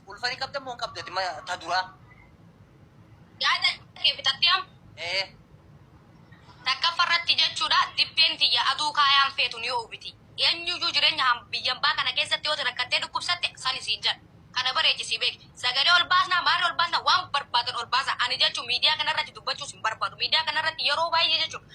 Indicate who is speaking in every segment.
Speaker 1: Ulfa ni qabda moo hin qabda dima ta duraa.
Speaker 2: Yaada kee fixattee am? Ee. Takkaffa irratti jechuudha dibbeen tiyya aduu kaayaan feetu ni oowwiti. Eenyuyyuu jireenya ham biyyambaa kana keessatti yoo ati rakkattee dhukkubsatte sani siin jedha. Kana bareechi sii beeki. Sagalee ol baasnaa maali ol baasnaa waan barbaadan ol baasaa. Ani jechuun miidiyaa kana irratti dubbachuus hin barbaadu. Miidiyaa kana irratti yeroo baay'ee jechuudha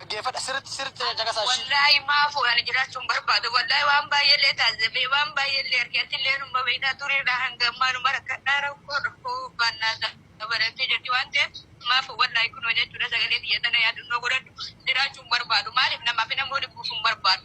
Speaker 3: Dhaggeeffadha sirriitti sirriitti caqasaa ishii. Wallaahi maafuu ani
Speaker 2: jiraachuun barbaadu wallaahi waan baay'eellee taasifamee waan baay'eellee arge atillee numa beektaa tureedha hanga ammaa numa rakkadhaa rakkoo rakkoo baannaa dabalatee jirti waan ta'eef maafuu wallaahi kunoo jechuudha sagalee biyya tana yaadannoo godhadhu jiraachuun barbaadu maaliif namaaf hin ammoo dhibbuuf hin barbaadu.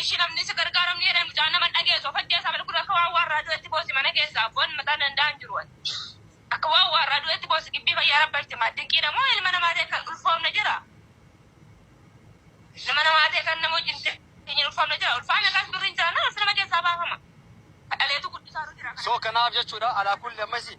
Speaker 2: Ishi namni si gargaaram ni jedhan mucaan nama hin dhageesu of ajjeesaa bal kun akka waan waarraa du'etti boosi mana keessa abboon mataan danda'aa hin jiru ati akka waan waarraa du'etti boosi gibbii fayyaa rabbalti maal dinqiidha moo ilma namaa ta'e kan ulfoomne jira ilma namaa ta'e kan nama wajjin teenyeen ulfoomne jira ulfaa meeqaas birri hin jiraanna ulfi nama keessaa baafama kadhaleetu guddisaa jira So kanaaf jechuudha
Speaker 3: alaa kulli ammasi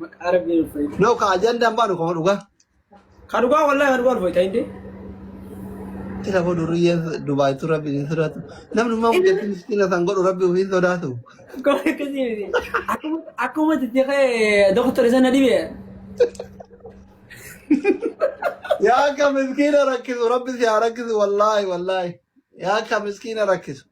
Speaker 4: Maqaa rabbiin
Speaker 5: ulfa'e. No ka
Speaker 4: ajandaan baanu kama
Speaker 5: dhugaa. Ka dhugaa
Speaker 4: wallahi ka dhugaa
Speaker 5: ulfa'e ta'indee.
Speaker 4: Tira boo durriyyee Dubaayitu rabbi hin sodaatu. Namni immoo guddatti miskiina san godhu rabbi ofiin sodaatu. Akkuma akkasii
Speaker 6: miti. Akkuma akkuma itti ka'e doktora sana dhibe. Yaa
Speaker 4: akka miskiina rakkisu rabbi si haa rakkisu wallaahi wallaahi. Yaa akka miskiina rakkisu.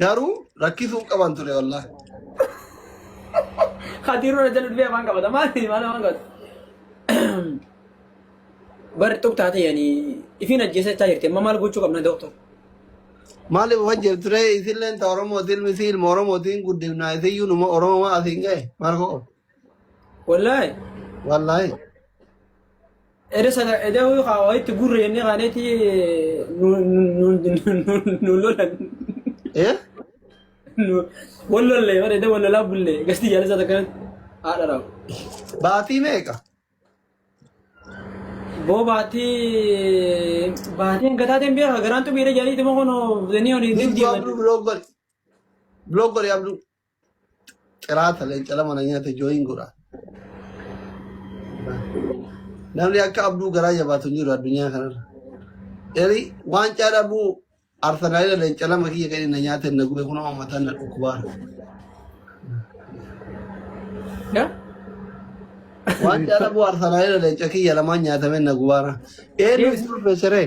Speaker 4: Garuu rakkisuu qaban ture wallaahi.
Speaker 6: Kadiiruu na jala dhufee afaan qabata maali maal afaan qabata. Bar xub taatee yani ifiin ajjeesee taa jirti amma maal gochuu qabna dooktor.
Speaker 4: Maaliif wajjin ture isilleen ta Oromootiin misi ilma Oromootiin guddifnaa isiyyuu numa Oromoo asiin ga'e maal koo Wallaahi
Speaker 6: wallaahi. Eda sana eda huyu ka waitti gurre jennee kaaneeti nu lolan. Ee?
Speaker 4: Wal
Speaker 6: lollee bar eda wal lolaa bullee gasti jaalisa takka haadha raam. Baatii meeqa? Boo baatii baatii hanga taateen beeka garaan xumii eda jaalii tuma kono zanii honi Ni zin abduu deeman. blog godhi.
Speaker 4: Blog godhi abduu. Qiraata leenca lama na nyaate jooyin godha. Namni akka abduu garaa jabaatu hin jiru addunyaa kanarra. Eri waancaa dhabuu Arsenaalila leenca lama kiyya kan inni na nyaate na gube kunoo ammataan na dhukkubaara.
Speaker 6: Ya?
Speaker 4: Waancaa dhabuu Arsenaalila leenca kiyya lamaan nyaatame na gubaara. Eenyu Yes. isin ulfeesseree?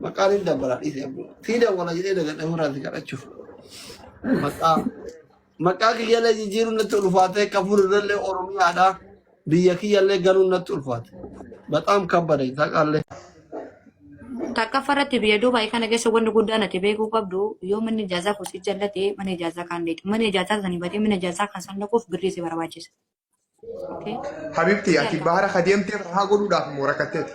Speaker 4: Maqaa ni dabbala dhiise abbo. Sii dawwala jedhee dagadha ofirraa si kadhachuuf. Maqaa maqaa kiyyallee jijjiiruun natti ulfaatee kafur irrallee Oromiyaadha. Biyya kiyyallee galuun natti ulfaate. Baxaam kabbada isaaqaallee.
Speaker 7: Takkaffaa irratti biyya Duubaay kana keessa wanni guddaan ati beekuu qabdu yoo manni ijaazaa kun si jallate mana ijaazaa kaan deetu. Mana ijaazaa sanii batee mana ijaazaa kan san dhaquuf birrii si barbaachisa. Habibti
Speaker 8: ati bahara ka deemtee rahaa godhuudhaaf moo rakkatteeti?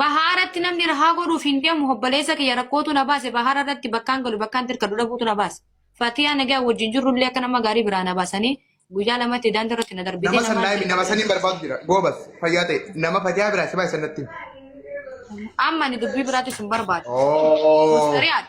Speaker 8: Bahaaratti
Speaker 7: namni rahaa godhuuf hin deemu obboleessa kiyya rakkootu na baase bahaara irratti bakkaan galu bakkaan tirkadhu dhabuutu na baase. Fatiyaa nagaa wajjin jirrullee akka nama gaarii biraa na baasanii guyyaa lamatti daandii irratti na darbitee Nama namaan sannaayimi nama saniin barbaadu
Speaker 8: jira. Goobas fayyaa ta'e nama fatiyaa biraa si baay'isan natti.
Speaker 7: amma ani dubbii biraattis hin barbaadu. Oh. Mustariyaadha.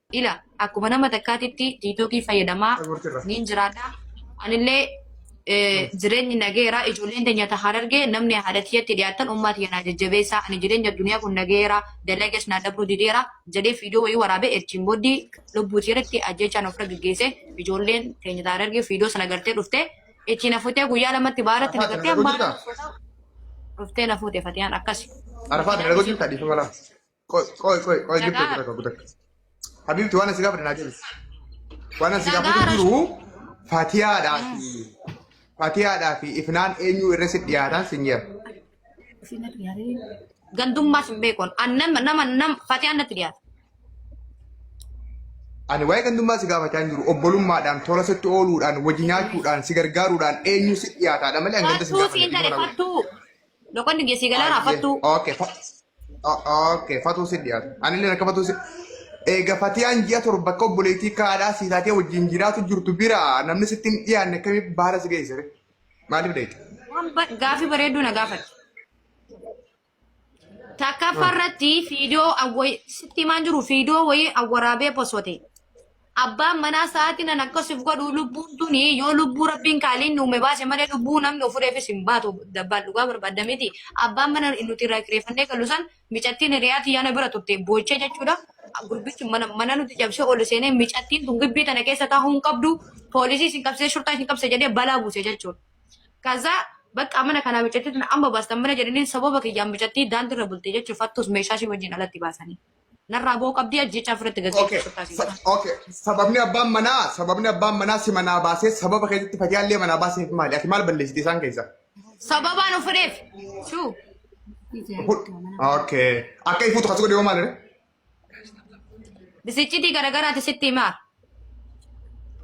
Speaker 7: ila akkuma nama takkaatitti tiiktookii fayyadamaa niin jiraadha. Anillee jireenyi nageera ijoolleen teenya ta harargee namni haadha tiyyatti dhiyaatan ummaa tiyya naa jajjabeessaa ani jireenya duniyaa kun nageera dalagees naa dabruu dideera jedhee fiidoo wayii waraabee erchiin booddii lubbuu tiyyatti ajjeechaan ofirra geggeesse ijoolleen teenya ta harargee fiidoo sana gartee dhufte itti na futee guyyaa lamatti baaratti na gartee ammaa dhuftee na fuute fatiyaan akkasi. Arafaa dalagaa jirta
Speaker 8: dhiifama laa. Qoy qoy qoy qoy gifti Nagaa. kutakka kutakka. Habiibti waan asi gaafadhe naa deebisi. Waan asi Nagaa gaafadhe jiru fatiyaadhaa fi fatiyaadhaa fi ifnaan eenyu irra si dhiyaataan sin jira.
Speaker 7: Gandummaas hin beekon. An nama nama nam fatiyaan natti dhiyaata.
Speaker 8: Ani waa'ee gandummaa si gaafachaa hin jiru obbolummaadhaan tola sitti ooluudhaan wajji nyaachuudhaan si gargaaruudhaan eenyu si dhiyaataadha malee hanga si Fattuu
Speaker 7: siin
Speaker 8: gaafanne tare
Speaker 7: fattuu. Loqonni
Speaker 8: kiyya
Speaker 7: sii galaara
Speaker 8: Ayyee.
Speaker 7: fattuu. Okay. fa- o-
Speaker 8: Okay. Fatuu si dhiyaatu. Ani illee akka fatuu si. Eega fatiyaan ji'a torba akka obboleettii kaadhaa sii taatee wajjin jiraatu jirtu bira namni sitti hin dhiyaanne akkamii baala si geessire. Maaliif deete? Waan ba- Gaaffii
Speaker 7: bareedduu na gaafate. Takkaffaa irratti fiidiyoo awwa- sitti himaan jiru fiidiyoo wayii awwaraabee posote. Abbaan manaa sa'aatiin an akka sif godhu lubbuun tuni yoo lubbuu rabbiin kaaliin nu uume baase malee lubbuu namni ofureefis hin baatu dabbaan dhugaa barbaadda miti. Abbaan mana nuti irraa kireeffannee galu san micattiin hiriyaa tiyyaa na bira turte boochee jechuudha. Gurbichi mana, mana nuti cabsee ol seenee micattiin tun gibbii tana keessa taa'uu hin qabdu poolisii isin qabsee shurtaa isin qabse jedhee balaa buuse jechuudha. Kaza bakka mana kanaa micattii tun amma baastan mana jedhaniin sababa kiyyaan micattii daandirra bulte jechuudha fattuus meeshaa ishii wajjin alatti baasanii. narraa ba'uu qabdii ajjechaa ofirratti Okay. gaggeessuuf taasisu. Sa- okay.
Speaker 8: Sababni abbaan manaa sababni abbaan manaa si manaa baasee sababa keessatti fayyaallee manaa baaseef maali? Ati maal balleessite isaan keessa? Sababaan of
Speaker 7: fedheef. Shuu. Hu-
Speaker 8: Okay. Akka ifuutu kasu godhe yoo maal jedhe?
Speaker 7: Bisichitii garagaraati sitti himaa.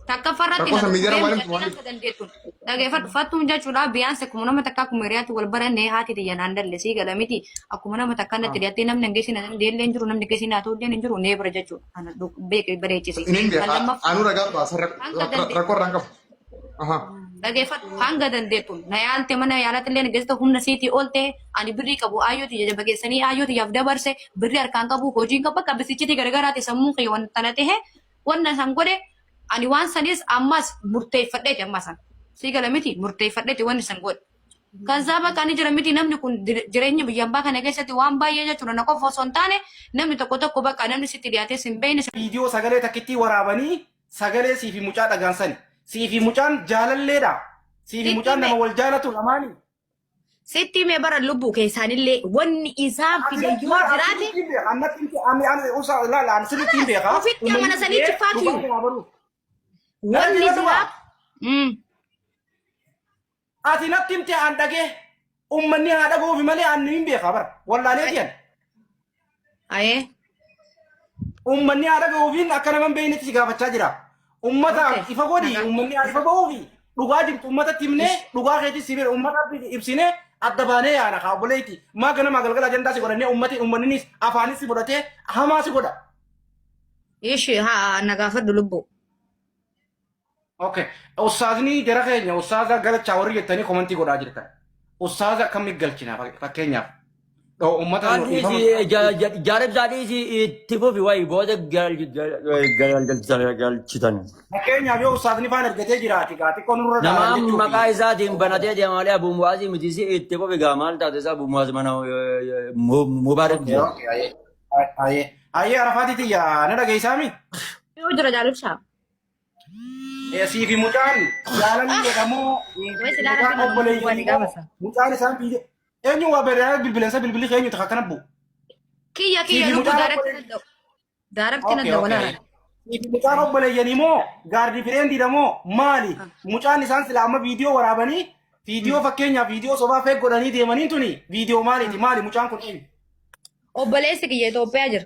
Speaker 7: Takkaffaa irratti Rakkoo samii jara waliin tumaanii. akka dandeettu dhageeffadhu fattuun jechuudha biyyaansi akkuma nama takka akkuma hiriyaatti wal barannee haati tiyya naan dalle sii gala miti akkuma nama takka natti dhiyattee namni hin geessin hin deellee hin jiru namni geessin haa ta'u hin jiru nee bira jechuudha kana beeke bareechise Inni hin kan beekaa. lammaffaa Anuu ragaa
Speaker 8: baasa Hanga dandeenye. rakkoo irraa hin qabu. Aha. Dhageeffadhu
Speaker 7: hanga dandeettu na yaalte mana yaalatti illee geessite humna siitii oolte ani birrii qabu aayyooti jajjaba keessanii aayyooti yaaf dabarse birrii harkaan qabu hojiin qabu bakka bisichitii garagaraati sammuun kiyya wanta na ta'e wanna san godhe ani waan sanis ammas murteeffadheeti amma san sii gala miti murteeffadheeti wanni san godhe. Kan isaa bakka ani jira miti namni kun dir- jireenya biyya ambaa kana keessatti waan baay'ee jechuudha na qofa osoo hin taane namni tokko tokko bakka namni sitti dhiyaatee sin beekne viidiyoo sagalee takkittii
Speaker 9: waraabanii Sagalee siifi mucaa dhagaan sani. Siifi mucaan jaalalleedha. Siifi Sitti mucaan hime. nama wal jaalatu lamaani. Sitti
Speaker 7: himee bara lubbuu keessaanillee wanni isaan fide yoo jiraate Ofitti amana sanii jiffaatu. wanni duraa. Mm.
Speaker 9: Ati natti himte an dhagee ummanni haa dhagoofi malee an hin beekaa bara. Wallaalee tiyan.
Speaker 7: Ayee.
Speaker 9: Ummanni haa dhagoofiin akka nama hin beeknetti si gaafachaa jira. Ummata Okay. ifa godhi Nagaa. ummanni haa ifa bahuufi dhugaa jirtu ummatatti himnee dhugaa keetis si bira ummata ibsinee adda baanee yaana kaa obboleetti maa ganamaa galgala ajandaa si godhannee ummati ummanninis afaanis si godhatee hamaa si godha.
Speaker 7: Ishi haa na gaafadhu lubbuu.
Speaker 9: Okay. Ustaazni jara keenya ustaaza galchaa warri jettanii komantii godhaa jirtan. Ustaaza akkamni galchina fakkeenyaaf. Dhoo uummata nu dhiifama.
Speaker 10: Jaarib saadhiisi itti fufi wayi booda galchitan. Fakkeenyaaf yoo
Speaker 9: ustaazni faan argatee jiraate gaa xiqqoo nurra Nama laalan jechuudha. maqaa
Speaker 10: isaatiin banatee deemaalee Abu Muwaazii miti si itti fufi gaa maal taate isaa Abu Muwaaz mana Mubaarak jira.
Speaker 9: Ayee arafaati tiyya na dhageessaami. Yoo jira
Speaker 7: jaalibshaa.
Speaker 9: Esii fi mucaan jaalalli jedhamu Wes ilaala mucaan kana obboleeyyan mucaan immoo gaafasa. mucaan isaan biyya eenyu waa beeraa bilbilansa bilbilli keenyu takka kana bu'u. Kiyya Sii kiyya fi
Speaker 7: lubbuu mucaan daarakti obboleeyyan. nadda. Daarakti Okay, nadda okay. walaala. Sii fi mucaan
Speaker 9: obboleeyyan immoo gaardi fireendiidha moo maali? Mucaan isaan sila amma viidiyoo waraabanii viidiyoo fakkeenyaaf viidiyoo sobaa feeg godhanii deemanii tuni viidiyoo maaliiti maali mucaan kun eenyu? Obboleessi
Speaker 7: kiyya Itoophiyaa jira.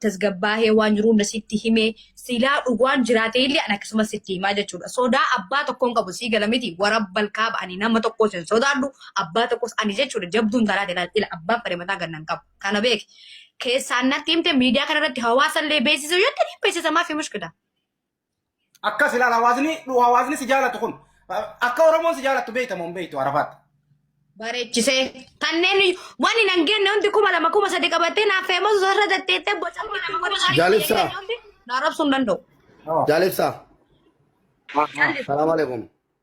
Speaker 7: tasgabbaahee waan jiru hunda sitti himee silaa dhugaan jiraatee illee an akkasumas sitti himaa jechuudha. Sodaa abbaa tokkoon qabu sii gala miti warabbal kaaba ani nama tokkos hin sodaadhu abbaa tokkos ani jechuudha jabduun tanaate laal ila abbaan fedhe mataa ganna hin qabu kana beeki. Keessaan natti himte miidiyaa kanarratti hawaasa illee beeksisuu yoo ta'e beeksisa maaf hin mushkila.
Speaker 9: Akkas ilaala hawaasni dhu- hawaasni si jaalatu kun akka Oromoon si jaalattu beekta moo hin beektu Arafaatti. Bareechisee.
Speaker 7: Kanneen wani nan genne hundi kuma lama kuma sadi qabattee naaf feemosu sarara tatteettee boca mana nama godhu sarara Jaalibsaa.
Speaker 4: tatteettee hundi na arrabsuu
Speaker 7: hin danda'u. Jaalibsaa.
Speaker 4: Salaam alaikum.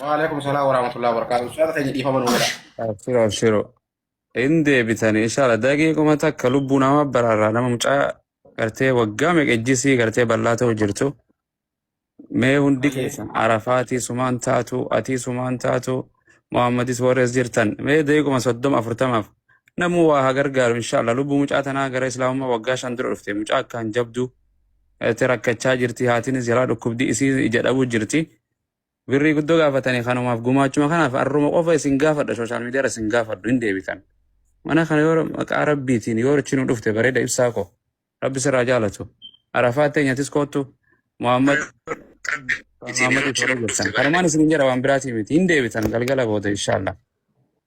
Speaker 9: Waalaikum salaam warahmatullahi wabarakatuh. Ustaaza keenya dhiifama
Speaker 11: nuu godha. Abshiro abshiro. Hin deebitani inshallah daqiiquma takka lubbuu nama baraarraa nama mucaa gartee waggaa meeqa ejjisii gartee bal'aa ta'u jirtu. Mee hundi Hayyee. keessan arafaatii sumaan taatu atii sumaan taatu Muhammadis warrees jirtan mee daqiiquma soddoma afurtamaaf namuu waa haa gargaaru inshallah lubbuu mucaa tanaa gara islaamummaa waggaa shan dura dhufte mucaa akkaan jabduu Ati rakkachaa jirti haatinis jalaa dhukkubdi isiin ija dhabuu jirti. Birrii guddoo gaafatani kanumaaf gumaachuma kanaaf arruma qofa isin gaafadha social media irra isin gaafadhu hin deebitan. Mana kana yoo maqaa rabbiitiin yoo richi nu dhufte bareeda ibsaa koo. Rabbi sirraa jaalatu. Arafaa teenyatis koottu Muhammad Muhammad itti jirtan. Kanumaan isin hin jedha waan biraatii miti hin deebitan galgala booda inshallah.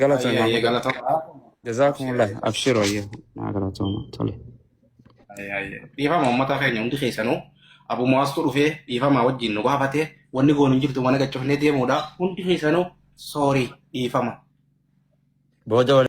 Speaker 10: Galata Ayyee ayyee
Speaker 11: Maamudoo. galatoomaa. Abshir Jazaakumullah. ayyee. Abshir wayya. Naa galatooma. Tole. Ayyee ayyee.
Speaker 9: Dhiifama uummata keenya hundi keessanuu abu mu'aastuu dhufee dhiifama wajjin nu gaafatee wanni goonu hin jirtu mana gachofnee deemuudha. Hundi keessanuu soorii
Speaker 10: dhiifama.
Speaker 9: Booda wal